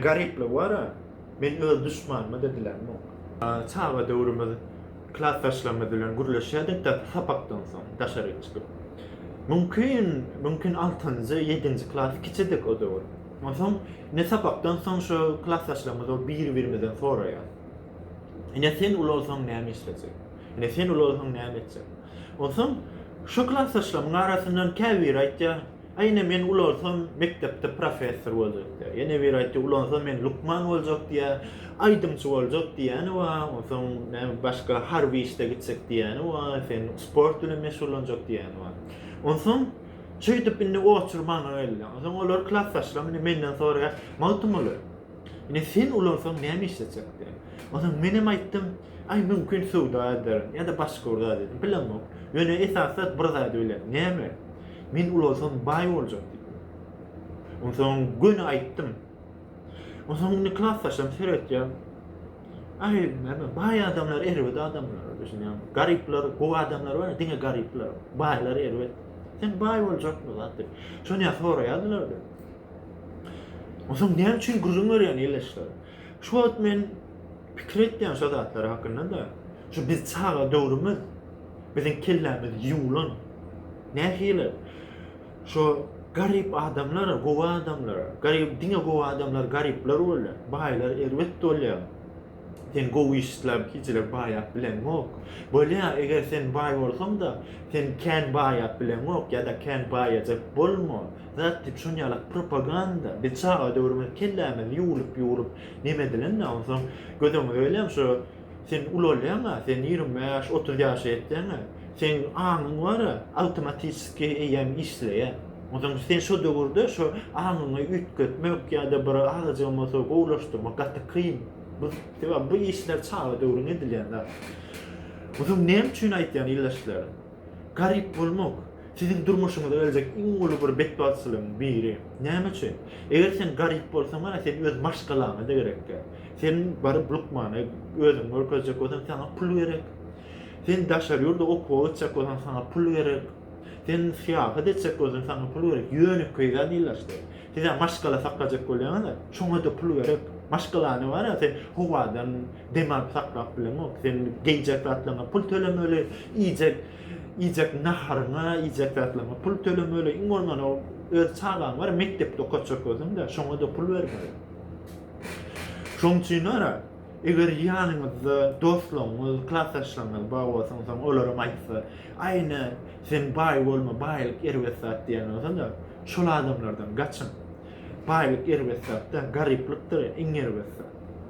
Garyplygy bar-a, men öz duşmanyma da dilämok. Çaga döwrümiz klasdaşlarymyz bilen gürleşýärdik daşy sapakdan soň daşaryk çykyp. Mümkin, mümkin altynjy, ýedinji klas kiçidik o döwür. Onsoň ine sapakdan soň şo klasdaşlarymyz bolup bir-birimizden soraýarys. Ine sen uly bolsaň näme işlejek? Ine sen uly bolsaň näme etjek? Onsoň şo klasdaşlarymyň arasyndan käbiri aýtýar. Ine, men ulansam, mekdepde professor boljak diýýär. Ýa nebir aýtdy, ulansam, men lukman boljak diýýär, aýdymçy boljak diýýäni bar, onsoň näme başga harby işde gitjek diýýäni bar, sen sport bilen meşgullanjak diýýäni bar. Onsoň şeýdip indi oçur maňa geldi. Onsoň olar klasdaşlarym indi menden soraýar, Magtymguly, ine sen ulansaň näme iş etjek diýip. Onsoň men hem aýtdym, aý mümkin söwda ederin ýa-da başga bir zat ederin, bilemok. Ýöne esasy zat bir zady bilerin, näme? Men ulalsam baý boljak diýdim. Onsoň göni aýtdym. Onsoň Niklas saçam seretýän. Aý, näme, baý adamlar erbet adamlar düşünýäň. Garyplar, gowy adamlar bar, diňe garyplar, baýlar erbet. Sen baý boljakmy zat diýip. Şony ýa soraýardylar diýip. Onsoň näme üçin gürrüň berýän ýylyşlar? Şu wagt men pikir etýän şo zatlar hakynda-da. Şu biz çaga döwrümiz, biziň kellämiz ýuwlan. Nähili? Şo garyp adamlar, gowy adamlar, garyp diňe gowy adamlar garyplar bolýar, baýlar erbet bolýar. Sen gowy iş isläp hiçilik baýap bileňok. Bolýar, eger sen baý bolsaň-da, sen kän baýap bileňok ýa-da kän baýajak bolma. Zat diýip şonýaly propaganda. Biz çaga döwrümiz kellämiz ýuwlup-ýuwlup, Neme edilende onsoň göz öňüňe gelýän şu sen ulalýaňa, sen ýigrimi bäş, otuz ýaşa ýetýäňä, seň aňyň bar-a, awtomatiski eýýäm işleýär. Onsoň sen şo döwürde şu aňyňy üýtgetmek ýa-da bir agajy bolmasa gowulaşdyrmak gaty kyn. Bu sebäbi bu işler çaga döwrüň edilýän zat. Onsoň näme üçin aýtýan ildeşlerim? Garyp bolmak, siziň durmuşyňyza geljek iň uly bir betbagtçylygyň biri. Näme üçin? Eger sen garyp bolsaň, mana, sen öz maşgalaňa-da gerek däl. Sen baryp lukmana özüňi görkezjek bolsaň, saňa pul gerek. Sen daşary ýurda okuwa gitjek bolsaň, saňa pul gerek. Sen syýahat etjek bolsaň, saňa pul gerek. Ýönekeý zat ilaçdy. Siz-ä maşgala saklajak bolýaňyz-a, şoňa-da pul gerek. Maşgalany, bara, sen howadan Dem alyp saklap bilemok. Sen geýjek zatlaryňa pul tölemeli, iýjek iýjek naharyňa, iýjek zatlaryňa pul tölemeli. Iň bolmanda öz çagaň bar, mekdepde okatjak özüň-de, şoňa-da pul bermeli. Şoň üçin ara, eger ýanyňyzda dostlaryňyz, klasdaşlaryňyz bar bolsa, onsoň olaram aýtsa, Aýna, sen baý bolma, baýlyk erbet zat diýen bolsa-da, şol adamlardan gaçyň. Baýlyk erbet zat däl, garyplykdyr iň erbet zat.